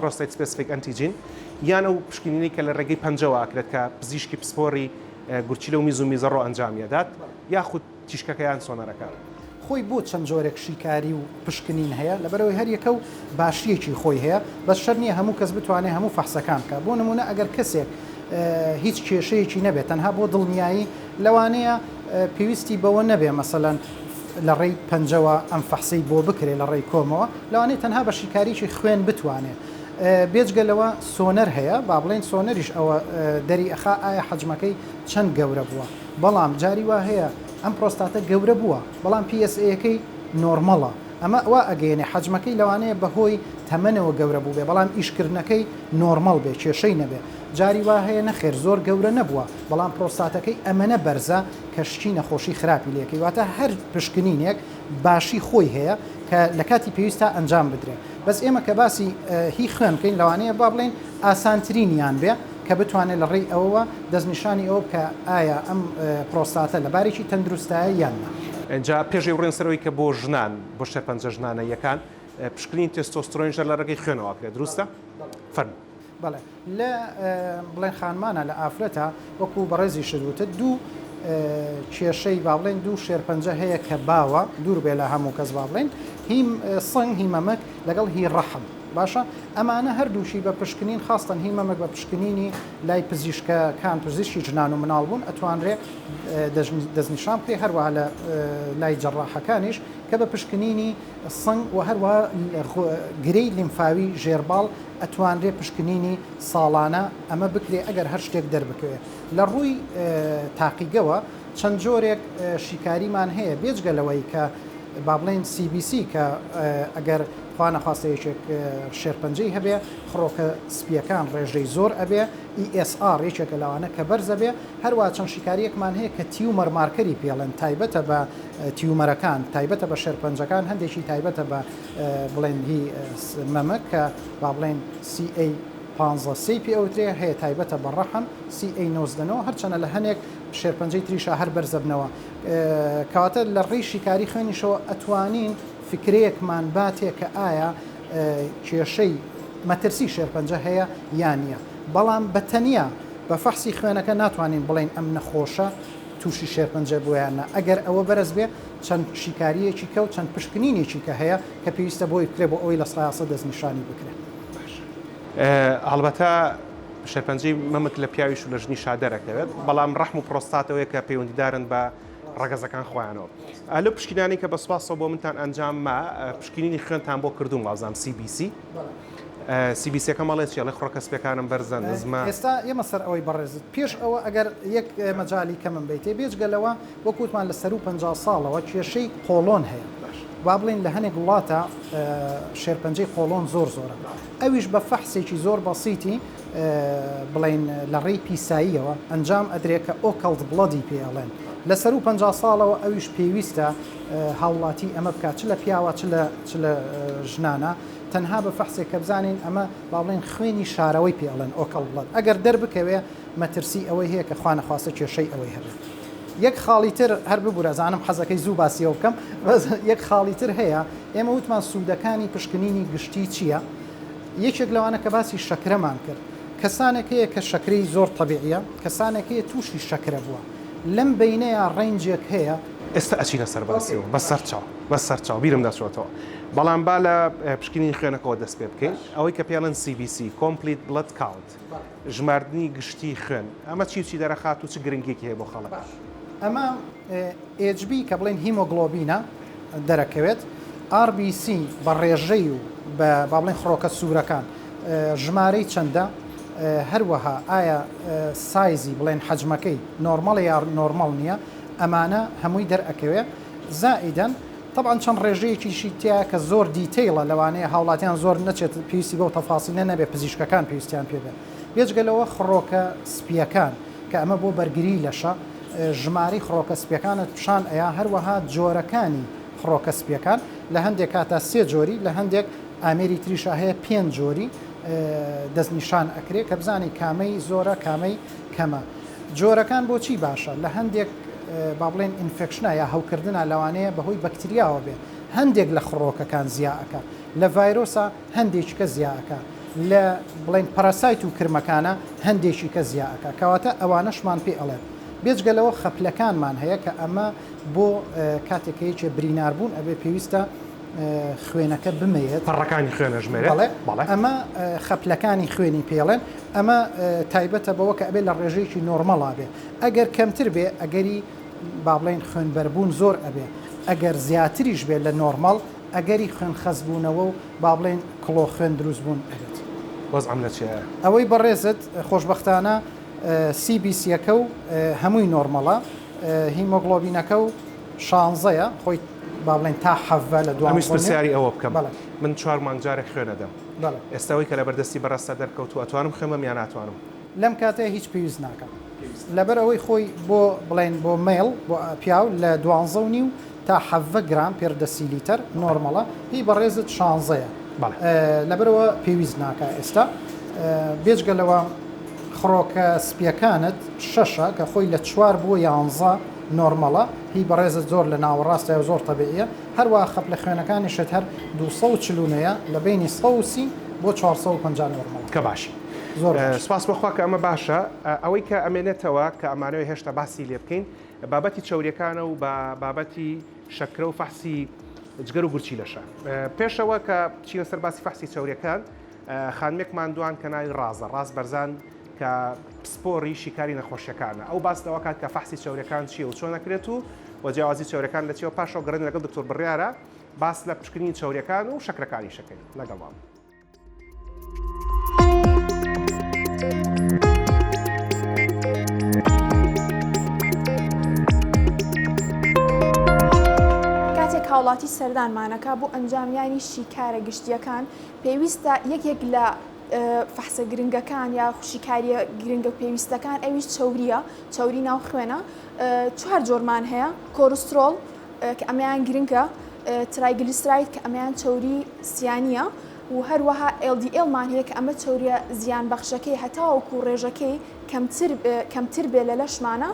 Prostate Specific Antigen، یان ئەو پشکنینەی کە لە ڕێگەی پەنجەوە ئەکرێت کە پزیشکی پسپۆڕی گورچیلە و میز و میزەڕۆ ئەنجامی ئەدات، یاخود تیشکەکە یان سۆنەرەکە. خۆی بۆ چەند جۆرێک شیکاری و پشکنین هەیە لەبەرئەوەی هەر یەکە و باشیەکی خۆی هەیە بەس شەرت نیە هەموو کەس بتوانێ هەموو فەحسەکان بکات بۆ نمونە ئەگەر کەسێک هیچ کێشەیەکی نەبێت تەنها بۆ دڵنیایی لەوانەیە پێویستی بەوە نەبێ مەسەلەن لە ڕێی پەنجەوە ئەم فەحسەی بۆ بکرێ لە ڕێی کۆمەوە، لەوانەیە تەنها بە شیکاریی خوێن بتوانێ. بێجگە لەوە سۆنەر هەیە، با بڵێین سۆنەریش ئەوە دەری ئەخا ئایا حەجمەکەی چەند گەورە بووە. بەڵام جاری وا هەیە ئەم پرۆستاتە گەورە بووە، بەڵام پیئێسئێیەکەی نۆرمەڵە. ئەمە وا ئەگەیەنێ حەجمەکەی لەوانەیە بە هۆی تەمەنەوە گەورە بووبێ، بەڵام ئیشکردنەکەی نۆرمەڵ بێ، کێشەی نەبێ. جاری وا هەیە نەخێر زۆر گەورە نەبووە بەڵام پرۆستاتەکەی ئەمەنە بەرزە کە شکی نەخۆشی خراپی لەکەی واتە هەر پشکنینێک باشی خۆی هەیە کە لە کاتی پێویستا ئەنجام بدرێت بەس ئێمە کە باسی هی خوێن بکەین لەوانەیە با بڵێن ئاسانترینیان بێ کە بتوانێت لە ڕێی ئەوەوە دەستنیشانی ئەو بکە ئایا ئەم پرۆستاتە لە بارێکی تەندروستایە یان نا. ئینجا پێش ئەی بڕێن سەرەوەی کە بۆ ژنان بۆ شێرپەنجە ژنانە یەکان پشکنین تێستۆسترۆنیشە لە ڕێگەی خوێنەوە ئەکرێت دروستە؟ فەرموو. بەڵێ لە بڵێن خانمانە لە ئافرەتە وەکو بەڕێزیشت وتت دوو کێشەی با بڵێن دوو شێرپەنجە هەیە کە باوە دوور بێ لە هەموو کەس با بڵێن هی سنگ هی مەمەک لەگەڵ هی ڕەحم باشە ئەمانە هەردووشی بە پشکنین خاستن هی مەمەک بە پشکنینی لای پزیشکە کان پزیشکی جنان و مناڵ بوون ئەتوانرێ دەستنیشان بکرێ هەروە لە لای جەڕاحەکانیش کە بە پشکنینی سنگ و هەروە گرەی لیمفاوی ژێرباڵ ئەتوانرێ پشکنینی ساڵانە ئەمە بکرێ ئەگەر هەر شتێک دەربکەوێ. لە ڕووی تاقیگەوە چەند جۆرێک شیکاریمان هەیە بێجگە لەوەی کە با بڵێین سی بی سی کە ئەگەر خوا نەخواستە یەکێک شێرپەنجەی هەبێ خڕۆکە سپیەکان ڕێژەی زۆر ئەبێ ESR یەکێکە لەوانە کە بەرزە بێ هەروە چەند شیکاریەکمان هەیە کە تیومەر مارکەری پێڵێن تایبەتە بە تیومەرەکان تایبەتە بە شێرپەنجەکان هەندێکی تایبەتە بە بڵێن هی مەمک کە با بڵێن سی ئەی پانزە سێی پێ ئەوترێ هەیە تایبەتە بە ڕەحم سی ئەی نۆزدە نۆ هەرچەنە لە هەنێک شێرپەنجەی تریشا هەر بەرزە بنەوە کەواتە لە ڕێی شیکاری خوێنیشەوە ئەتوانین فکرەیەکمان باتێ کە ئایا کێشەی مەترسی شێرپەنجە هەیە یان نییە بەڵام بە تەنیا بە فەحسی خوێنەکە ناتوانین بڵێن ئەم نەخۆشە تووشی شێرپەنجە بوویانە ئەگەر ئەوە بەرز بێ چەند شیکارییەکی کە و چەند پشکنینێکی کە هەیە کە پێویستە بۆی بکرێت بۆ ئەوەی لە سایاسە دەستنیشانی بکرێت. هەڵبەتە شێرپەنجەی مەمک لە پیاویش و لە ژنیشا دەرەکەوێت، بەڵام ڕەحم و پرۆستات ئەوەیە کە پەیوەندیدارن بە ڕەگەزەکان خۆیانەوە. لەو پشکینانەی کە بە سوپاسەوە بۆ منتان ئەنجام ما، پشکینینی خوێنتان بۆ کردووم وابزانم سی بی سی. سی بی سیەکەم ئەڵێ چی؟ ئەڵێ خڕۆکە سپیەکانم بەرزە، نزمە. ئێستا ئێمە سەر ئەوەی بەڕێزت پێش ئەوە ئەگەر یەک مەجالی کەمم بەیتێ بێجگە لەوە، وەک وتمان لە سەروو پەنجا ساڵەوە کێشەی قۆڵۆن هەیە وا بڵێین لە هەنێک وڵاتە شێرپەنجەی قۆڵۆن زۆر زۆرە ئەویش بە فەحسێکی زۆر بەسیتی بڵین لە ڕێی پیساییەوە ئەنجام ئەدرێ کە ئۆکەڵت بڵەدی پێ ئەڵێن لە سەروو پ ساڵەوە ئەویش پێویستە هاوڵاتی ئەمە بکات چ لە پیاوە چ لە ژنانە تەنها بە فەحسێک کە بزانین ئەمە با بڵێن خوێنی شارەوەی پێڵێن ئۆکەڵ بڵەت ئەگەر دەربکەوێ مەترسی ئەوەی هەیە کە خوانەخواستە کێشەی ئەوەی هەبێت یەک خاڵی تر هەر ببورە زانم حەزەکەی زوو باسی ئەوە بکەم بەس یەک خاڵی تر هەیە ئێمە وتمان سوودەکانی پشکنینی گشتی چییە یەکێک لەوانە کە باسی شەکرەمان کرد کەسانێک هەیە کە شەکرەی زۆر تەبیعیە کەسانێک هەیە تووشی شەکرە بووە لەم بینەیە ڕەنجێک هەیە ئێستا ئەچینە سەر باسیەوە بە سەرچاو بە سەرچاو بیرم دەچۆتەوە بەڵام با لە پشکنینی خوێنەکەەوە دەست پێ بکەین ئەوەی کە پێڵێن CBC Complete Blood Count ژماردنی گشتی خوێن ئەمە چی و چی دەرەخات و چ گرنگیەکی هەیە بۆ خەڵک؟ باش ئەمە HB کە بڵێن هیمۆگڵۆبینە دەرەکەوێت RBC بە ڕێژەی و بە با بڵێن خڕۆکە سوورەکان ژمارەی چەندە هەروەها ئایا سایزی بڵێن حەجمەکەی نۆرمەڵە یا نۆرمەڵ نییە ئەمانە هەمووی دەرئەکەوێ زائیدەن تەبعەن چەند ڕێژەیەکیشی تیایە کە زۆر دیتەیڵە لەوانەیە هاوڵاتیان زۆر نەچێت پێویستی بەو تەفاسیلە نەبێت پزیشکەکان پێویستیان پێ بێت بێجگە لەوە خڕۆکە سپییەکان کە ئەمە بۆ بەرگری لەشە ژمارەی خڕۆکە سپیەکانت پیشان ئەیا هەروەها جۆرەکانی خڕۆکە سپیەکان لە هەندێک کاتە سێ جۆری لە هەندێک ئامێری تریشا هەیە پێنج جۆری دەستنیشان ئەکرێ کە بزانین کامەی زۆرە کامەی کەمە. جۆرەکان بۆچی باشە لە هەندێک با بڵێن ئینفێکشنا یا هەوکردنا لەوانەیە بەهۆی بەکتریاوە بێت هەندێک لە خڕۆکەکان زیا ئەکا لە ڤایرۆسا هەندێکیکە زیا ئەکا لە بڵێن پەراسایت و کرمەکانە هەندێکیکە زیا ئەکا کەواتە ئەوانەشمان پێ ئەڵێت بێجگە لەوە خەپلەکانمان هەیە کە ئەمە بۆ کاتێکەیەکێ بریناربوون ئەبێ پێویستە خوێنەکە بمێنێت پەڕەکانی خوێنە ژمێرێت بەڵێ ئەمە خەپلەکانی خوێنی پێڵێن ئەمە تایبەتە بەوە کە ئەبێ لە ڕێژەیەکی نۆرمەڵا بێ ئەگەر کەمتر بێ ئەگەری با بڵێن خوێنبەربوون زۆر ئەبێ ئەگەر زیاتریش بێت لە نۆرمەڵ ئەگەری خوێن خەزبوونەوە و با بڵێن کڵۆ خوێن دروست بوون ئەبێت وەزعم لە چێە ئەوەی بەڕێزت خۆشببختانە سیبیسیەکە و هەمووی نۆرمەڵە هیمۆگلۆبینەکە و شانزەیە خۆی با بڵێن تا حەڤە لە دوانزە ئەمیش پرسیاری ئەوە بکەم بەڵێ من چوار مانگ جارێک خوێن ئەدەم بەڵێ ئێستا ئەوەی کە لە بەردەستی بەڕێزتا دەرکەوتووە ئەتوانم خوێن بەم یان ناتوانم؟ لەم کاتەیا هیچ پێویست ناکات لەبەر ئەوەی خۆی بۆ بڵێن بۆ مەیڵ بۆ پیاو لە دوانزە و نیو تا حەڤە گرام پێر دەسی لیتەر نۆرمەڵە هی بەڕێزت شانزەیە بەڵێ لەبەرەوە پێویست ناکا ئێستا بێجگە لەوە خڕۆکە سپییەکانت شەشە کە خۆی لە چوار بۆ یانزە نۆرمەڵە هی بەڕێزت زۆر لە ناوەڕاستە و زۆر تەبیعیە هەروا خەپ لە خوێنەکانیشت هەر دوو سەد و چل و نۆیە لە بەینی سەد و سی بۆ چوار سەد و پەنجا نۆرمەڵە. کە باشی زۆر باشە. سپاس بەخوا کە ئەمە باشە. ئەوەی کە ئەمێنێتەوە کە ئەمانەوێ هێشتا باسی لێ بکەین بابەتی چەوریەکانە و با بابەتی شەکرە و فەحسی جگەر و گورچیلەشە. پێشەوە کە بچینە سەر باسی فەحسی چەوریەکان خانمێکمان دوان کە ناوی ڕازە، ڕاز بەرزان، کە پسپۆڕی شیکاری نەخۆشیەکانە ئەو باس لەوەکات کە فەحسی چەورەکان چیە و چۆن ئەکرێت و و جیاوازی چەورەکان لە چیەوە پاشەوە گەڕێن لەگەڵ دکتۆر بڕیارە باس لە پشکنینی چەورەکان و شەکرەکانی شەکەین لەگەڵام. کاتێک هاوڵاتی سەردانمانەکا بۆ ئەنجامیانی شیکارە گشتیەکان، پێویستە یەکێک لە فەحسە گرنگەکان یا شیکاریە گرنگە و پێویستەکان ئەویش چوریە چوری ناو خوێنە چوار جۆرمان هەیە کۆرسترۆڵ کە ئەمەیان گرنگە ترایگلیسراید کە ئەمەیان چوری سیانە و هەروەها LDL مان هەیە کە ئەمە چوریە زیان بەخشەکەی هەتاوەکو ڕێژەکەی کەمتر بێ لە لەشمانە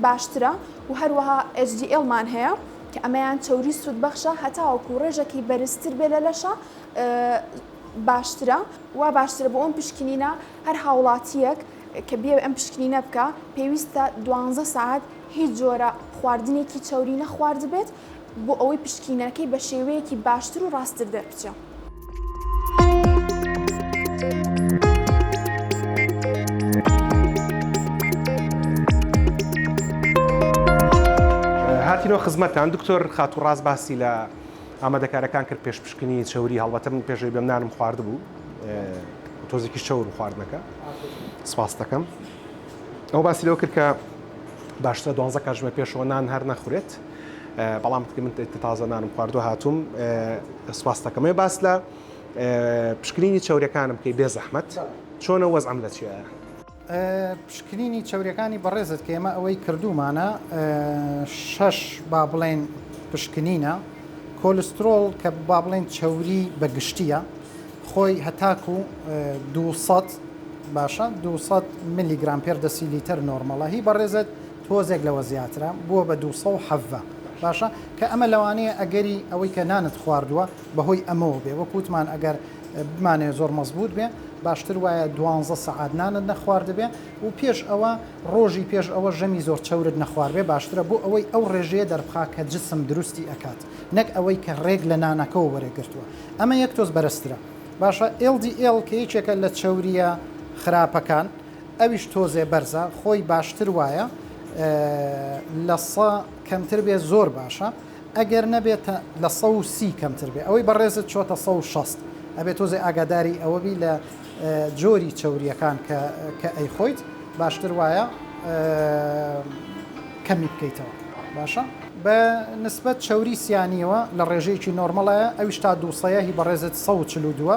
باشترە و هەروەها HDL مان هەیە کە ئەمەیان چەوری سوودبەخشە هەتاوەکو ڕێژەکی بەرزتر بێ لە لەشە باشترە. وا باشترە بۆ ئەم پشکنینە هەر هاوڵاتیەک کە بێ ئەم پشکنینە بکە پێویستە دوانزە ساعت هیچ جۆرە خواردنێکی چەوری نەخواردبێت بۆ ئەوەی پشکینەکەی بە شێوەیەکی باشتر و ڕاستتر دەربچێ. هاتینەوە خزمەتان دکتۆر خاتو ڕاست باسی لە ئامادەکارەکان کرد پێش پشکنی چوری هەڵبەتە من پێشەوی بەم نانم خواردبوو تۆزێکی چەور خواردنەکە سپاس دەکەم ئەو باسی لەوە کرد کە باشترە دوانزە کاتژمە پێشەوە نان هەر نەخورێت بەڵام من تازە نانم خواردوە هاتووم سپاستەکەمێ باس لە پشکنینی چاورەکانم کەی بێ زەحمت چۆنە وەزعم لە چیە؟ پشکنینی چاورەکانی بەڕێزت کە ئێمە ئەوەی کردومانە شش با بڵێن پشکنینە کۆلسترۆڵ کە با بڵێن چەوری بە گشتیە خۆی هەتاکو 200 باشە 200 ملیگرام پێر دەسی لیتەر نۆرمەڵە هی بەڕێزت تۆزێک لەوە زیاترە بووە بە دوو سەد و حەڤە باشە کە ئەمە لەوانەیە ئەگەری ئەوەی کە نانت خواردووە بەهۆی ئەمەوە بێ وەک وتمان ئەگەر بمانەوێ زۆر مەزبووت بێ باشتر وایە دوانزە سەعات نانت نەخواردبێ و پێش ئەوە ڕۆژی پێش ئەوە ژەمی زۆر چەورت نەخواردبێ باشترە بۆ ئەوەی ئەو ڕێژەیە دەربخا کە جسم دروستی ئەکات نەک ئەوەی کە ڕێک لە نانەکەوە وەرێ گرتووە ئەمە یەک تۆز بەرزترە باشە LDL کە یەکێکە لە چەورییە خراپەکان ئەویش تۆزێ بەرزە خۆی باشتر وایە لە سە کەمتر بێ زۆر باشە ئەگەر نەبێت لە سە و سی کەمتر بێ ئەوەی بەڕێزت چۆتە سە و شەست ئەبێت تۆزێ ئاگاداری ئەوەبی لە جۆری چەورییەکان کە کە ئەی خۆیت باشتر وایە کەمی بکەیتەوە باشە بە نسبەت چەوری سیانیەوە لە ڕێژەیەکی نۆرمەڵایە ئەویش تا دووسەیە هی بەڕێزت سە و چل و دووە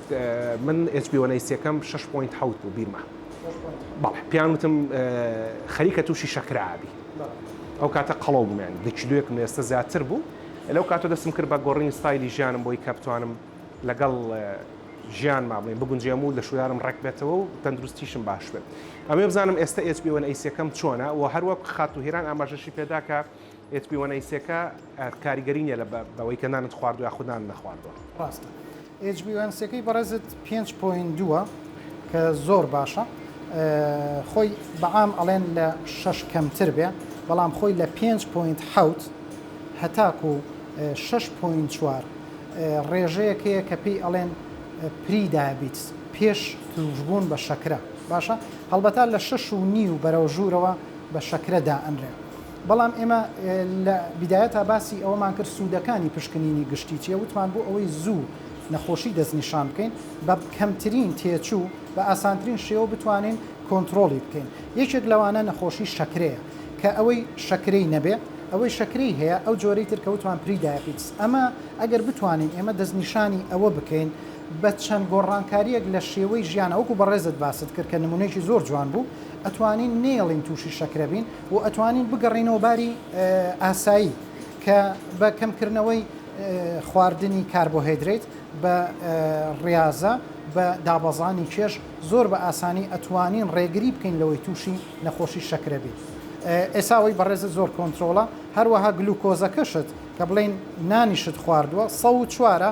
من ئێچ پی وەن ئەی سێکەم شەش پۆینت حەوت بوو بیرمە بەڵێ پێیان وتم خەریکە تووشی شەکرابی ئەو کاتە قەڵەو بوومیان دە کیلوێکم لە ئێستا زیاتر بوو لەو کاتۆ دەستم کرد بە گۆڕینی ستایلی ژیانم بۆی کە بتوانم لەگەڵ ژیان مابڵین بگونجێم و لە شوودارم ڕێک بێتەوە و تەندروستیشم باش بێت ئەمێ بزانم ئێستا ئێچ پی وەن ئەی سێکەم چۆنە و هەروە خاتو هێران ئاماژەشی پێداکە ئێچ پی وەن ئەی سێکە کاریگەری نیە لە بەوەی کە نانت خواردوە یاخود نانت نەخواردوە. ڕاستە ئێچ بی وان سیەکەی بەڕێزت پێنج پۆینت دووە کە زۆر باشە خۆی بەعام ئەڵێن لە شەش کەمتر بێ بەڵام خۆی لە پێنج پۆینت حەوت هەتاکو شەش پۆینت چوار ڕێژەیەکەیە کە پێی ئەڵێن پری دابیت پێش توشبوون بە شەکرە باشە هەڵبەتا لە شەش و نیو بەرەو ژوورەوە بە شەکرە دائەنرێ بەڵام ئێمە لە بیدایەتا باسی ئەوەمان کرد سوودەکانی پشکنینی گشتی چییە، وتمان بۆ ئەوەی زوو نەخۆشی دەستنیشان بکەین، بە کەمترین تێچوو، بە ئاسانترین شێوە بتوانین کۆنتڕۆڵی بکەین. یەکێک لەوانە نەخۆشی شەکرەیە، کە ئەوەی شەکرەی نەبێ، ئەوەی شەکرەی هەیە، ئەو جۆرەی تر کە وتمان پری دایەپیتس. ئەمە ئەگەر بتوانین ئێمە دەستنیشانی ئەوە بکەین بە چەند گۆڕانکارییەک لە شێوەی ژیانا، وەکو بەڕێزت باست کرد کە نموونەیەکی زۆر جوان بوو، ئەتوانین نەیەڵین تووشی شەکرە بین، و ئەتوانین بگەڕێینەوە باری ئاسایی کە بە کەمکردنەوەی خواردنی کاربۆهێدریت بە ڕاضە بە دابەزانی کێش زۆر بە ئاسانی ئەتوانین ڕێگری بکەین لەوەی تووشی نەخۆشی شەکرە بێت ئێساوەی بەڕێزە زۆر کۆنتترۆڵە هەروەها گلوکۆزەکەشت کە بڵین نانیشت خواردووە سە چوارە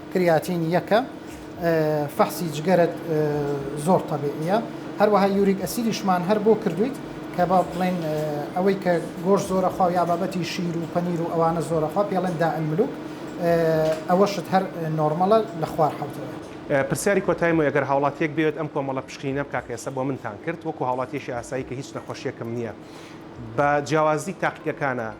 کریاتین یەکە فەحسی جگەرەت زۆر تەبیعیە هەروەها یوریک ئەسیدیشمان هەر بۆ کردویت کە با بڵێن ئەوەی کە گۆش زۆرە خوا یا بابەتی شیر و پەنیر و ئەوانە زۆرەخوا پێڵێن دا الملوک ئەوەشت هەر نۆرمەڵە لە خوار حوتەوە. پرسیاری کۆتای مۆ گەر هاوڵاتیەک بیەوێت ئەم کۆمەڵە پشکنینە بکا کە ئێستا بۆ منتان کرد وەکو هاوڵاتیەکی ئاسایی کە هیچ نەخۆشیەکم نیە بە جیاوازی تاقیگەکانە،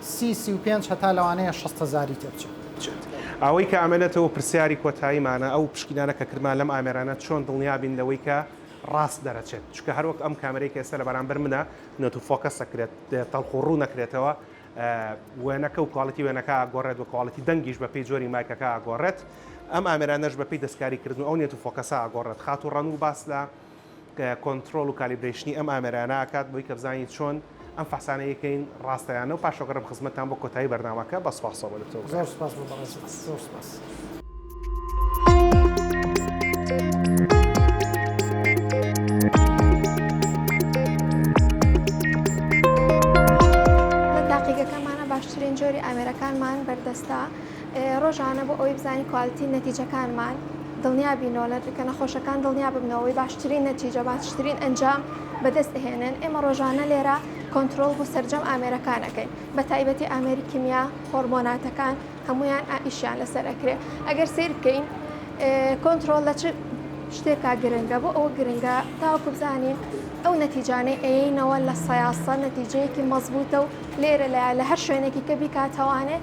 سی سی و پێنج هەتا لەوانەیە شەست هەزاری تێ بچێت. بچێت. ئەوەی کە ئەمەێتەوە پرسیاری کۆتاییمانە، ئەو پشکینانە کە کردمان لەم ئامێرانە چۆن دڵنیا بین لەوەی کە ڕاست دەرەچێت؟ چونکە هەر وەک ئەم کامێرەی کە ئێستا لە بەرامبەر منە، نۆتو فۆکەس دەکرێت، تەڵخ و ڕوو نەکرێتەوە، وێنەکە و کوالیتی وێنەکە ئاگۆڕێت و کوالیتی دەنگیش بە پێی جۆری مایکەکە ئاگۆڕێت. ئەم ئامێرانەش بە پێی دەستکاریکردن و ئەو نێت و فۆکەسە ئاگۆڕێت. خاتوو ڕەنوو باس لە کۆنترۆڵ و کالیبرەیشنی ئەم ئامێرانە ئەکات بۆی کە بزانین چۆن ئەم فحسانە یەکەین ڕاستە یان نەو پاش ئەگەڕێم خزمەتتان بۆ کۆتایی بەرنامەکە بە سپاسەوە بە دکتۆر بکەم. زۆر سپاس بۆ بەڕێز بەڕێز زۆر سپاس. لە تاقیگەکەمانا باشترین جۆری ئامێرەکانمان بەردەستە. ڕۆژانە بۆ ئەوەی بزانین کوالیتی نەتیجەکانمان دڵنیا بینەوە لە کە نەخۆشەکان دڵنیا ببنەوەی باشترین نەتیجە باشترین ئەنجام بەدەست ئەهێنن ئێمە ڕۆژانە لێرە کۆنتترۆل بۆ سرجەم ئامێرەکانەکەین بە تایبەتی ئامێری کیمیا هۆرمۆناتەکان هەمویان ئائیشیان لەسەر ئەکرێ ئەگەر سیر بکەین کۆنتترۆل لە چ شتێکا گرنگە بۆ ئەوە گرنگە تاوەکو بزانین ئەو نەتیجانەی ئەینەوە لە سەاسە نەتیجەیەکی مەزبووتە و لێرە لە لە هەر شوێنێکی کە بیکاتوانێت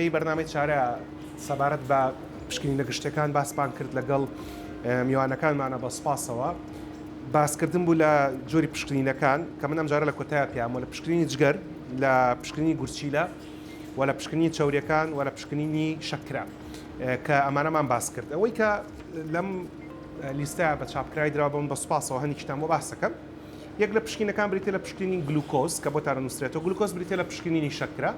ئەڵلقەی بەرنامەی چارە سەبارەت بە پشکنینە گشتەکان باسپان کرد لەگەڵ میوانەکانمانە بە سپاسەوە باسکردن بوو لە جۆری پشکنینەکان کە من ئەمجارە لە کۆتای پیامۆ لە پشکنینی جگەر لە پشکنینی گورچیلە و لە پشکنینی چاوریەکان و لە پشکنینی شەکرە کە ئەمانەمان باس کرد ئەوەی کە لەم لیستە بە چاپکراوی درا بم بە سوپاسەوە هەنیکیشتان بۆ باسەکەم یەک لە پشکینەکان بریتە لە پشکنین گلوکۆز کە بۆ تارە نووسێتەوە گلوکۆز بریتە لە پشکنینی شەکرە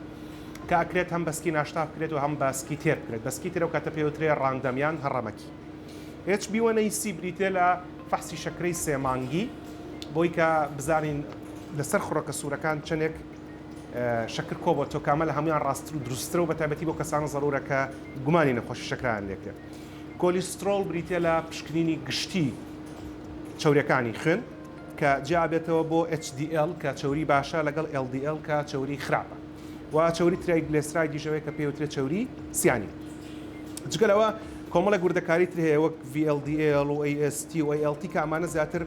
کە ئەکرێت هەم بەسکی ناشتا بکرێت و هەم باسکی تێر بکرێت بەسکی ترەوە کاتە پێوترێ ڕاندەمیان هەڕەمەکی هێچ بیوەنەی سی بریتێ لە فەحسی شەکرەی سێمانگی بۆی کە بزانین لەسەر خڕۆکە سوورەکان چەندێک شەکر کۆ بۆ تۆ کامە لە هەمویان ڕاستتر و دروستترە و بە تایبەتی بۆ کەسانە زەرورە کە گومانی نەخۆشی شەکرەیان لێ کرد. کۆلیسترۆڵ بریتییە لە پشکنینی گشتی چەوریەکانی خوێن کە جیا ئەبێتەوە بۆ HDL کە چەوری باشە لەگەڵ LDL کە چەوری خراپە و چەوری ترایگلێسرایدیش ئەوەیە کە پێوترێت چەوری سیانی. جگە لەوە کۆمەڵێک وردەکاری تر هەیە وەک VLDL و AST و ALT کە ئەمانە زیاتر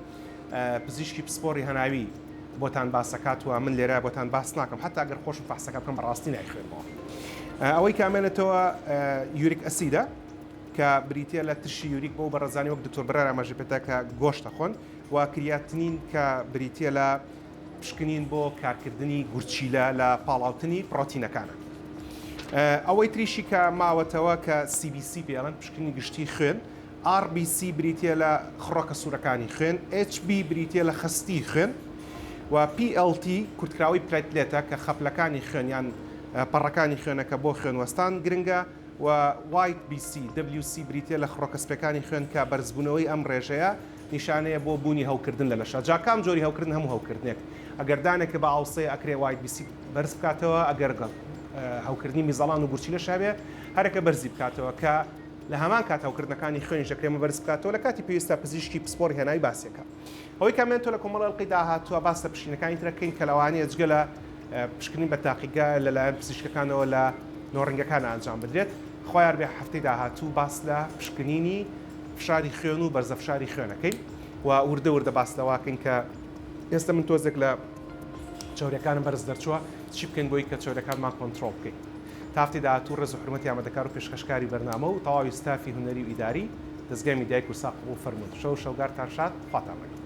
پزیشکی پسپۆڕی هەناوی بۆتان باسەکات و من لێرە بۆتان باس ناکەم حتا گەر خۆشم فەحسەکە بکەم بەڕاستی نایخوێنمەوە ئەوەی کامێنێتەوە یوریک ئەسیدە کە بریتە لە ترشی یوریک بۆ بەڕزانانی وەک دکتۆر برار ئاماژە پێدا کە گۆشتە خۆن و کریاتنین کە بریتە لە پشکنین بۆ کارکردنی گورچیلە لە پاڵاوتنی پرۆتینەکانە ئەوەی تریشی کە ماوەتەوە کە CBC پێڵەن پشکنی گشتی خوێن RBC بریتییە لە خڕۆکە سوورەکانی خوێن، HB بریتییە لە خەستی خوێن و PLT کورتکراوەی پلەیتلێتە کە خەپلەکانی خوێن یان پەڕەکانی خوێنە کە بۆ خوێن وەستان گرنگە و White BC WC بریتییە لە خڕۆکە سپێکانی خوێن کە بەرزبوونەوەی ئەم ڕێژەیە نیشانەیە بۆ بوونی هەوکردن لە لەشە جا کام جۆری هەوکردن هەموو هەوکردنێک ئەگەر دانێک کە بە ئاوسەیە ئەکرێ White BC بەرز بکاتەوە ئەگەر هەوکردنی میزەڵان و گورچیلەش هەبێ هەرەکە بەرزی بکاتەوە کە لە هەمان کات هەوکردنەکانی خوێنیش دەکرێ مەبەرز بکاتەوە لە کاتی پێویستدا پزیشکی پسپۆر هێنای باسیەکە ئەوەی کە ئەمێن تۆ لە کۆمەڵ ئەڵقەی داهاتووە باس لە پشینەکانی ترەکەین کە لەوانەیە جگە لە پشکنین بە تاقیگە لەلایەن پزیشکەکانەوە لە نۆڕنگەکان ئەنجام بدرێت خوایار بێ هەفتەی داهاتوو باس لە پشکنینی فشاری خوێن و بەرزە فشاری خوێنەکەین و وردە وردە باس لەواکەین کە ئێستا من تۆزێک لە چاورەکانم بەرز دەرچووە چی بکەین بۆی کە چاورەکانمان کۆنتترۆڵ بکەین تاقی داهاتوو ڕێز و حورمەتی ئامادەکار و پێشکەشکاری بەرنامە و تەواوی ستافی هونەری و ئیداری دەزگای میدیای کورسا قبوڵ فەرموون شەو و شەوگارتان شاد خواتان لەگەڵ.